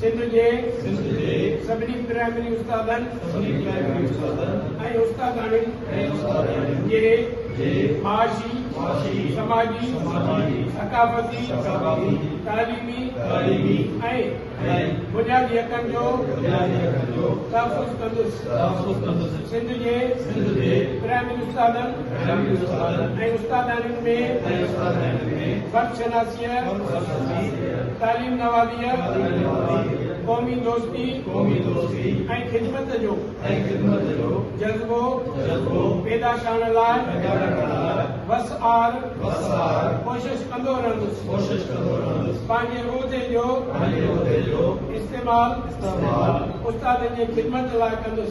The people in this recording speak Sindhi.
سنڌ جي سڀني پرائمري استادن ۽ استاداڻين جي معاشي، سماجي، ثقافتي، تعليمي ۽ بنيادي حقن جو تحفظ ڪندس. سنڌ جي پرائمري استادن ۽ استاداڻين ۾ فرد شناسي، تعليم نوازيء، قومي دوستي ۽ خدمت جو جذبو پيدا ڪرڻ لاء وس آهر ڪوشش ڪندو رهندس. پنهنجي عهدي جو استعمال استادن جي خدمت لاء ڪندس.